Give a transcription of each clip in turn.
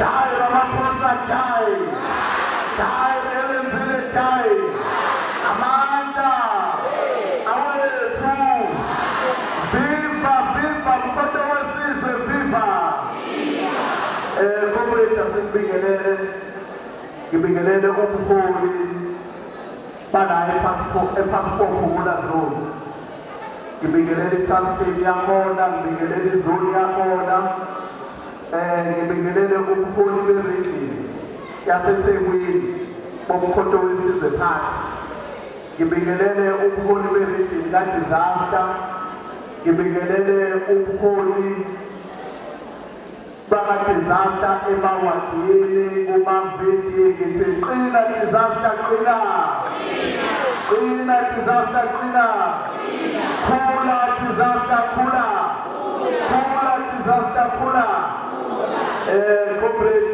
Die Ramaphosa die. Die Ellen Zille die. Amanda. Awethu. Viva viva mkhonto wesizwe viva. Eh comrade asibingelele. Ngibingelele umholi Bala epassport epassport phumula zone. Ngibingelela i-task team yakhona, ngibingelela izone yakhona. Eh ngibingelele umholi be-region yaseThekwini bomkhonto wesizwe phansi. Ngibingelele umholi be-region ka-disaster. Ngibingelele umholi Baba disaster emawadini kumavidi ngithi qina disaster qina qina disaster qina khula disaster khula khula disaster khula eh corporate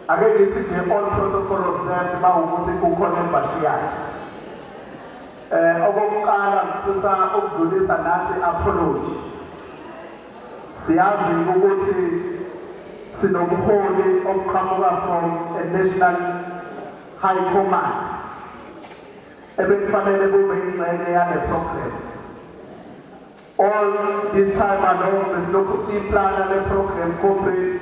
ake ngithi nje all protocol observed bawukuthi kukhona embashiyayo eh okokuqala ngifisa ukudlulisa nathi apology Siyazi ukuthi sinobuholi obuqhamuka from a national high command ebekufanele kube ingxenye yale program all this time along besilokhu siyiplana le program complete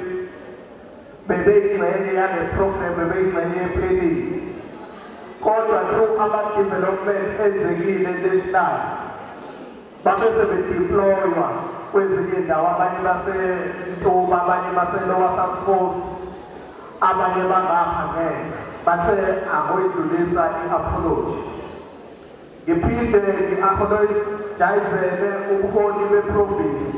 bebeyingxenye yale program bebeyingxenye yeplanning kodwa through ama-development enzekile national Babe sebedeploywa kwezinye indawo abanye baseNtuma abanye baseLower South Coast abanye bangapha ngenhla bathe angoyidlulisa i-apology ngiphinde ngi-apologizele ubuholi beprovinsi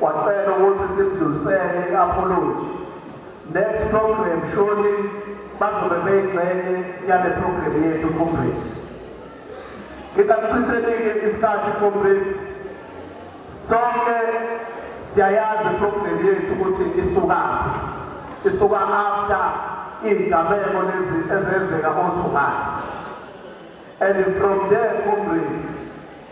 Wacela ukuthi simdlulisele i-apology. Next program surely bazobe beyigxenye yale program yethu comrade. Ngikakuchithelike isikhathi comrade. Sonke siyayazi program yethu ukuthi isukaphi. Isuka after izigameko lezi ezenzeka oThungathi. And from there comrade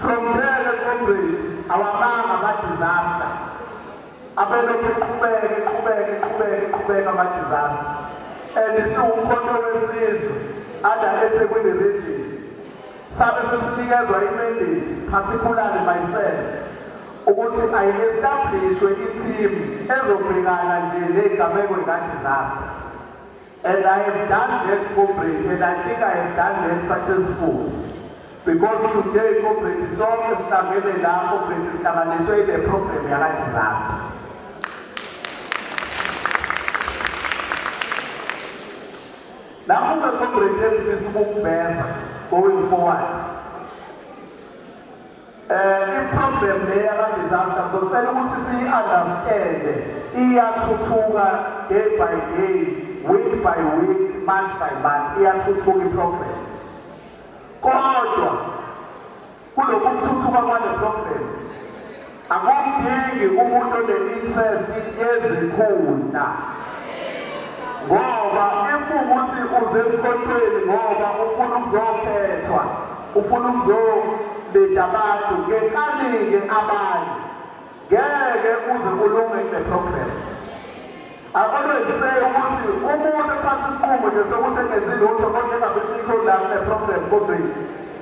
From there the comrades awamanga ba disaster abelokhu eqhubeke eqhubeke eqhubeke eqhubeke ama disaster and siwumkhonto wesizwe ada eThekwini region sabe sesinikezwa imandate particularly myself ukuthi ayi-establishwe i-team ezobhekana nje negameko lika-disaster And I have done that corporate and I think I have done that successfully. Because today corporate sonke sihlangene la corporate sihlanganiswe ile program yaka disaster. Lapho ke corporate engifisa ukukuveza going forward. Eh iproblem le yaka disaster ngizocela ukuthi siyi understand iyathuthuka day by day week by week month by month iyathuthuka iproblem kodwa kulokhu kuthuthuka kwale program akumdingi umuntu one-interest yezikhundla ngoba if ukuthi uze emkhontweni ngoba ufuna ukuzokhethwa Ufuna ukuzolinda abantu ngenkani-ke abanye ngeke uze kulunge kule program I always say ukuthi umuntu othatha isinqumo nje sokuthi engenzi lutho kodwa engabe bikho la kule program kodweni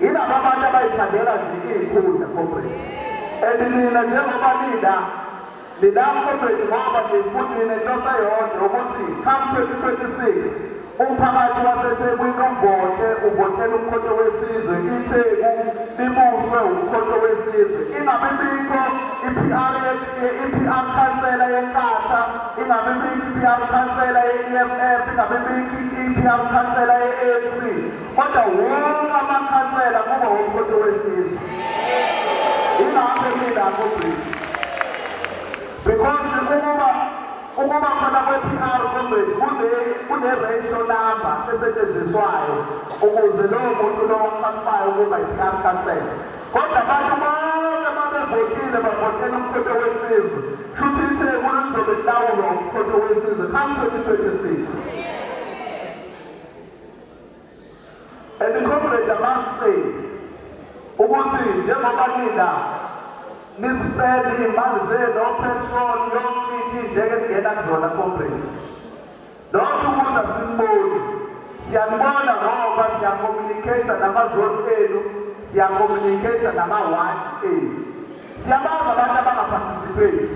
yilaba abantu abayithandela nje iy'nkundla corporate and nina njengoba nina Lilapho mfethu ngoba ngiyifundile inhloso eyodwa ukuthi come 2026 umphakathi waseThekwini uvote uvotela umkhonto wesizwe iTheku libuswe umkhonto wesizwe ingabe bikho iPR iPR khansela yeNkatha ingabe bikho iPR khansela yeEFF ingabe bikho iPR khansela yeANC kodwa wonke amakhansela kuba womkhonto wesizwe ilapho emilapho bridge because ukuba ukuba khona kwe-pr comrade kune-ratio number esetshenziswayo ukuze lowo muntu lowo akwalifayo ukuba yi-pr kansela kodwa abantu bonke babevotile bavotela umkhonto wesizwe shuthi itheku lizobe lilawulwa umkhonto wesizwe come 2026 And the comrade, I must say, ukuthi njengoba nina nisipele iy'mali zenu opetrol yonke into idleke ningena kuzona comrade not ukuthi asiniboni siyanibona ngoba siyacommunicate namazoni enu siyacommunicate namawadi enu siyabazi abantu abangaparticipate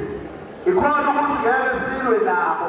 ikhona ukuthi ngeke silwe nabo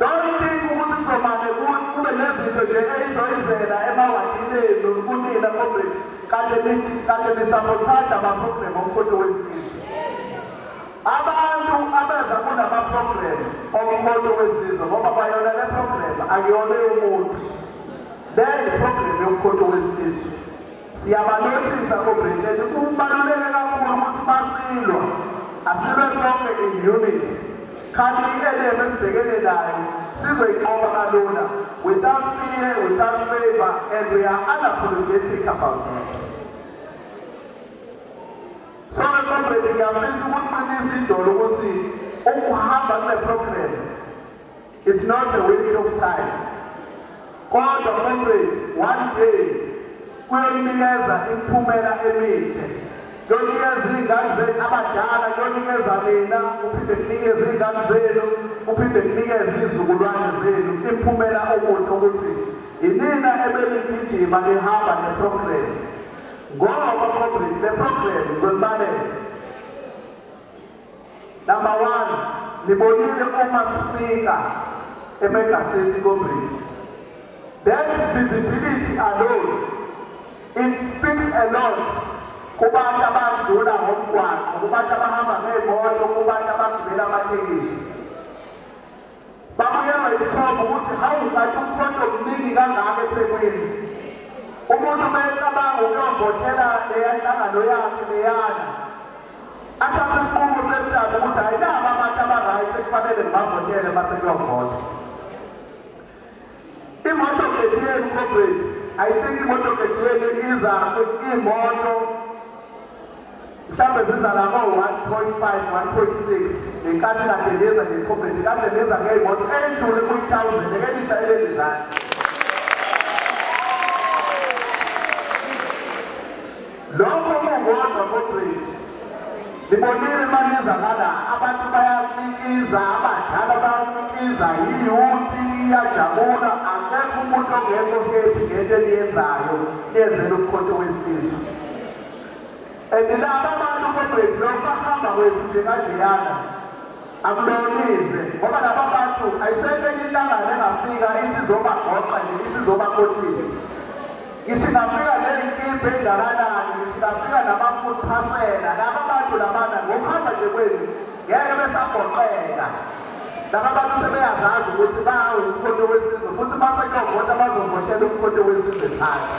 Don't think ukuthi kuzomane kube nezinto nje eyizoyizela emawadini enu kunina kodwa kade kade nisabothaja amaprogramu omkhonto wesizwe abantu abeza kunamaprogramu omkhonto wesizwe ngoba bayona le programu akuyona yomuntu le yiprogramu yomkhonto wesizwe Siyabanothisa oBritain kubaluleke kakhulu ukuthi masilwa asilwe sonke in unit. Kanti i-ADM esibhekene nayo sizoyinqoba kalula without fear, without favor and we are unapologetic about that. So ke comrade ngiyafisa ukuqinisa idolo ukuthi ukuhamba kule program It's not a waste of time. Kodwa comrade, one day kuyonikeza imiphumela emihle. Kuyonikeza izingane zenu abadala, kuyonikeza nina, kuphinde kunikeze izingane zenu, kuphinde kunikeze izizukulwane zenu imiphumela okuhle ukuthi yinina ebenigijima nihamba neprogram. Ngoba comrade, le program ngizonibalela. Number one, nibonile uma sifika eMega City Comrade. That visibility alone, it speaks a lot kubantu abadlula ngomgwaqo, kubantu abahamba ngey'moto, kubantu abagibela amatekisi. Babuyelwa isithombe ukuthi hawu kanti umkhonto omningi kangaka eThekwini. Umuntu uma ecabanga ukuyovotela leya nhlangano yakhe leyana athathe isinqumo sentaba ukuthi hhayi naba abantu aba-right ekufanele ngibavotele uma sekuyovota. Imotoket yenu comrade, I think imotoket yenu iza imoto mhlawumbe ziza la ko-1.5 1.6 ngenkathi kade niza ngecomrade kade niza ngeyimoto edlule kuyi-thousand eke nishayeleni zandla Lokho kukodwa kodwethu. Nibonile maniza ngala abantu bayakikiza abadala bayakikiza iyuti iyajabula akekho umuntu ongekho kephi ngento eniyenzayo niyenzela umkhonto wesizwe and laba abantu kodwethu lokho bahamba kwethu nje kanjeyana Angibonise ngoba laba bantu ayisekho enye inhlangano engafika ithi izobagoqa nje ithi izobakhohlisa ngisho ingafika neyinkimba engakanani ngisho ingafika nama-food phasela laba bantu labana ngokuhamba nje kwenu ngeke besagoqeka laba bantu sebeyazazi ukuthi bawu umkhonto wesizwe futhi basekuyovota bazovotela umkhonto wesizwe phansi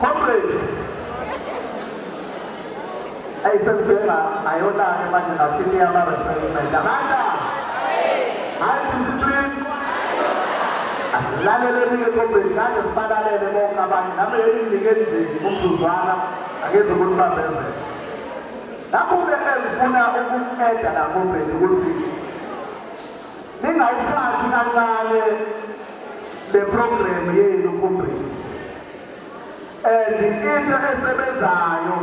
Comrade. Hey, sengisuke nga ayona-ke manje nathi niyama refreshment. Amandla. High discipline. Asilaleleni-ke comrade kade sibalalele bonke abanye nami yeni nginike nje umzuzwana angeze ukunibambezela. Nakho-ke engifuna uku-eda la comrade ukuthi Ningayithathi kancane le program yenu comrades. And into esebenzayo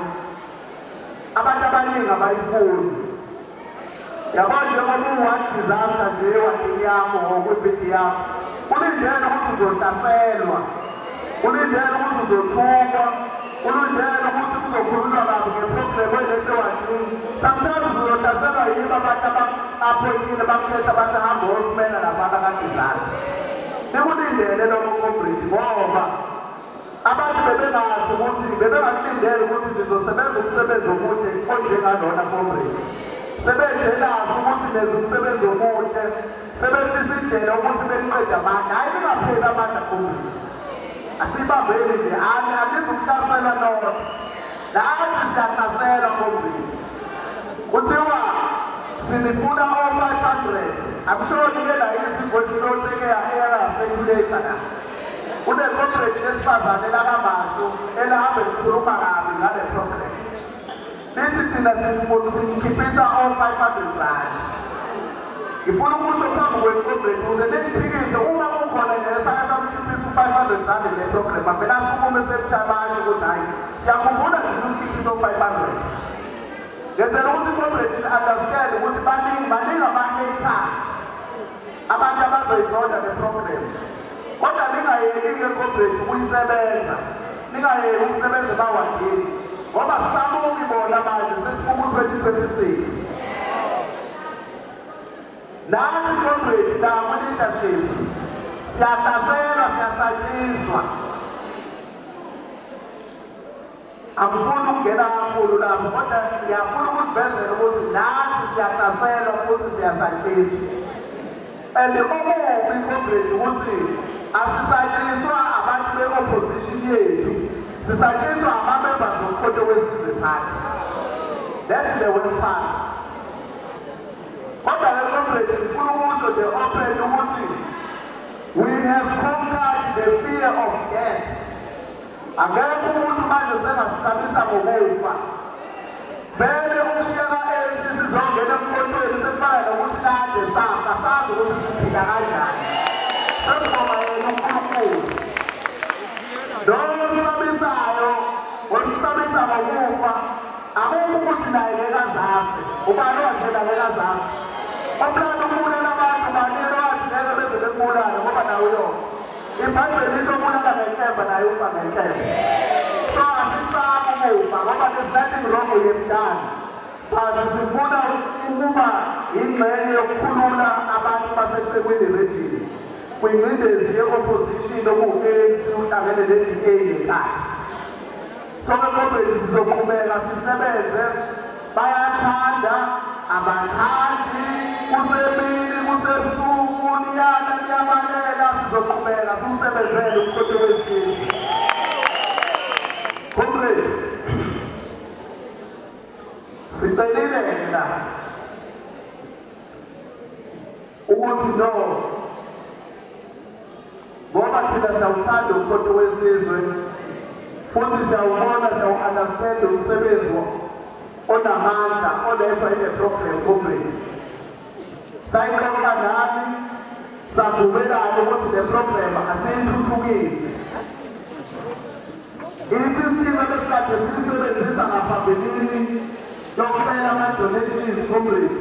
abantu abaningi abayifuni. Yabona njengoba uward disaster nje ewadini yakho ngokwividi yakho. Kulindele ukuthi uzohlaselwa. Kulindele ukuthi uzothukwa. Ulindele ukuthi kuzokhulunywa kabi ngeproblemu elethe wandini. Sometimes uzohlaselwa yibo abantu abaphoyikile bakukhetha bathi hamba osimena labantu abadisaster. Nikulindele lokho comrade ngoba abantu bebengazi ukuthi bebengakulindele ukuthi nizosebenza umsebenzi omuhle onjengalona comrade. Sebenjenazi ukuthi nenza umsebenzi omuhle sebefisa indlela ukuthi beniqede amandla hayi ningapheli amandla community asibambeni nje ani anizukuhlaselwa nona nathi siyahlaselwa community kuthiwa sinifuna o-500 amshoni ke la izinvoice note eke ya-era seculator na une-corporate lesifazane lakamasho elihambe likhuluma kabi ngale program Nithi thina simfuna simkhiphisa o 500 rand. Ngifuna ukusho phambi kwenu comrade ukuze ningiphikise uma kukhona ngesake samkhiphisa u 500 rand le program avela asukume sekuthabasha ukuthi hayi siyakhumbula thina usikhiphisa u 500. Ngenzela ukuthi comrade understand ukuthi baningi baningi ama haters. Abantu abazoyizonda le program. Kodwa ningayeki-ke comrade ukuyisebenza. Ningayeki ukusebenza ebawandini. Ngoba sabuki bona manje sesibuku 2026. Nathi comrade naku leadership siyahlaselwa siyasatshiswa. Angifuni ukungena kakhulu lapho kodwa ngiyafuna ukulivezela ukuthi nathi siyahlaselwa futhi siyasatshiswa. And omubi comrade ukuthi asisatshiswa abantu be-opposition yethu, sisatshiswa ama-members omkhonto wesizwe party. That's the worst part. Kodwa ke comrade ngifuna ukusho nje open ukuthi we have conquered the fear of death. Akekho umuntu manje sengasisabisa ngokufa. Vele ukushiya ka-ANC sizongena emkhontweni sekufana nokuthi kade safa sazi ukuthi siphila kanjani. Sesibonga yena uNkulunkulu. Lowo osisabisayo osisabisa ngokufa akukho ukuthi naye ngeke azafe. Ubani wathi yena ngeke azafe? Umlando ubulala abantu bani yena wathi ngeke beze bembulale ngoba nawe uyofa. IBhayibheli lithi obulala ngenkemba naye ufa ngenkemba. So asikusaba ukufa ngoba there's nothing wrong we have done. But sifuna ukuba ingxenye yokukhulula abantu baseThekwini region kwingcindezi ye-opposition okuwu-ANC uhlangene ne-DA ngenkathi Sonke comrades sizoqhubeka sisebenze bayathanda abathandi kusemini kusebusuku niyana niyabalela sizoqhubeka siwusebenzele umkhonto wesizwe comrades sicelile ke la ukuthi no ngoba thina siyawuthanda umkhonto wesizwe futhi siyawubona siyawu-understand umsebenzi onamandla olethwa ile program comrade sayixoxa nani savumelana ukuthi le program asiyithuthukise Isistimu ebesikade siyisebenzisa ngaphambilini yokucela ama-donations comrade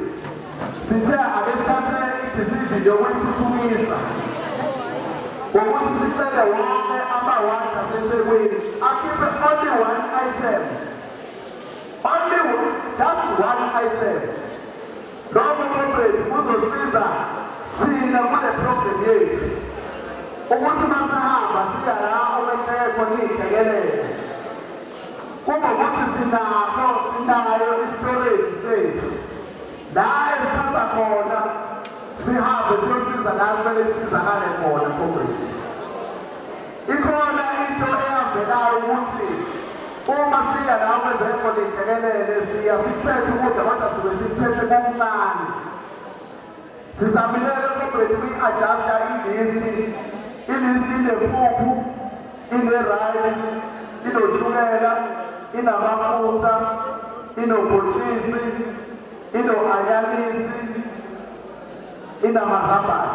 sithe ake sithathe i-decision yokuyithuthukisa ngokuthi sicele wonke amawadi asethekwini akhiphe only one item only just one item Lowo program uzosiza thina kule program yethu ukuthi masihamba siya la okwehleke khona iy'hlekelele kube ukuthi sinakho sinayo istorage sethu la esithatha khona sihambe siyosiza la kumele kusizakale khona comrade Ikhona into eyavelayo ukuthi uma siya la kwenzeka khona inhlekelele siya siphethe ukudla kodwa suke siphethe kokuncane sisamileke comrade kuyi-adjusta ilisti ilisti inempuphu ine-rice inoshukela inamafutha inobhotshisi ino-anyanisi inamazambane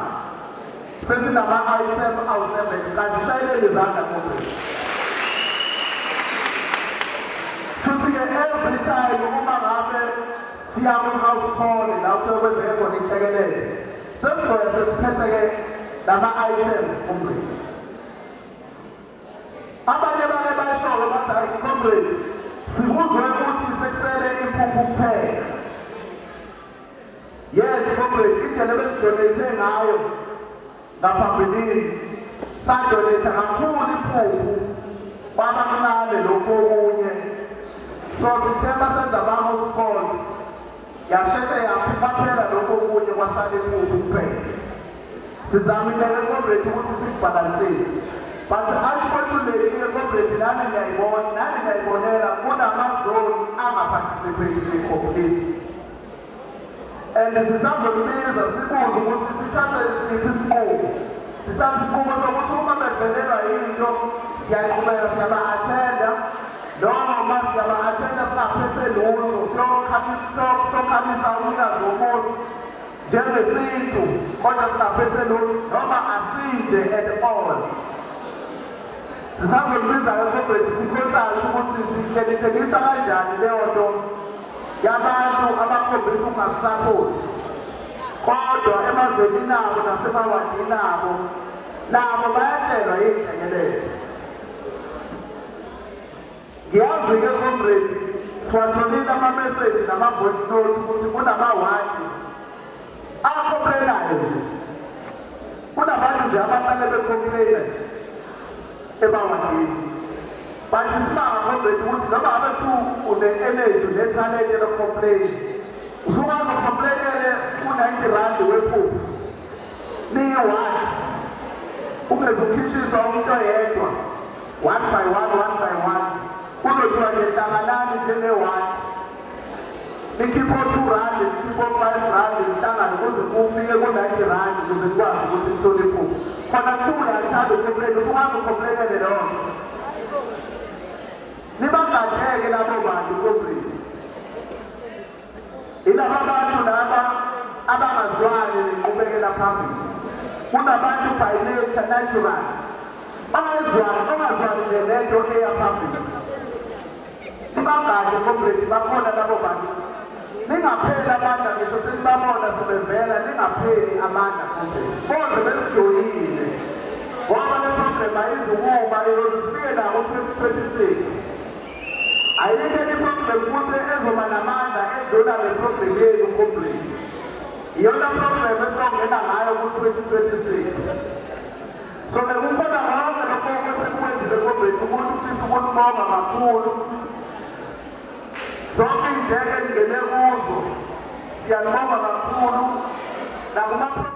sesinama-item awu-seven cha zishayelele izandla kodwa futhi-ke every time uma ngabe siya kwi-house call la useyokwenzeke khona inhlekelele sesizoya sesiphethe-ke nama-items umredi abanye bake bayisholo bathi hayi comrade sikuzwe ukuthi sekusele impuphu kuphela Yes comrade indlela besidonate ngayo ngaphambilini sadonate kakhulu iphuphu kwabamncane lokhu okunye so sithe basenza bamo schools yasheshe yaphela lokhu okunye kwasala iphuphu kuphela sizamile ke comrade ukuthi sikubhalansise but unfortunately ke comrade nani niyayibona nani niyayibonela kunamazoni angaphathisiphethile complete and sisazolibiza sibuze ukuthi sithathe isiphi isinqumo sithathe isinqumo sokuthi uma bevelelwa yinto siyaqhubeka siyaba-athenda noma siyaba-athenda singaphethe lutho siyokhalisa umnikazi womuzi njengesintu kodwa singaphethe lutho noma asinje at all sisazolibiza-ke comrade sikhothale ukuthi sihlekihlekisa kanjani leyo nto yabantu abakhombisa ukungasaphothi kodwa emazweni nabo nasemawadini nabo nabo bayahlelwa yiy'hlekelele ngiyazi-ke comrade siwatholile ama-message nama-voice note ukuthi kunamawadi Akhompleyinayo nje. Kunabantu nje abahlale bekhompleyina nje. Ebawandini. Bathi simanga khombeni ukuthi noma ngabe thu une-energy unethalente lokhompleyina. Usukwazi ukhompleyinele u-90 rand wephuphu. Niyi-one. Ungeze ukhishiswa umuntu oyedwa. One by one, one by one. Kuzothiwa nje hlanganani njenge-one. nikhiphe o-two randi nikhiphe o-five randi nihlangane kuze kufike ku-ninety randi kuze nikwazi ukuthi nithole iphupho khona kuthiwa uyathanda ukhompleni usukwazi ukhomplelele leyo nto nibagadeke labo bantu kombriti ilaba bantu laba abangazwani nenqubekela phambili kunabantu by nature natural ongazwani ongazwani nento eya phambili Ibagade comrade bakhona labo bantu. Ningapheli amandla ngisho senibabona sebevela ningapheli amandla comrade. Boze besijoyile. Ngoba le program ayizukuma iyoze sifike la ngo-2026. Ayikho enye program futhi ezoba namandla edlula le program yenu comrade. Iyona program esongena ngayo ku-2026. So ke kukhona konke lokho okwesikwenzile kodweni umuntu ufisa ukulibonga kakhulu zonke indleke ningene kuzo siyanibonga kakhulu nakuma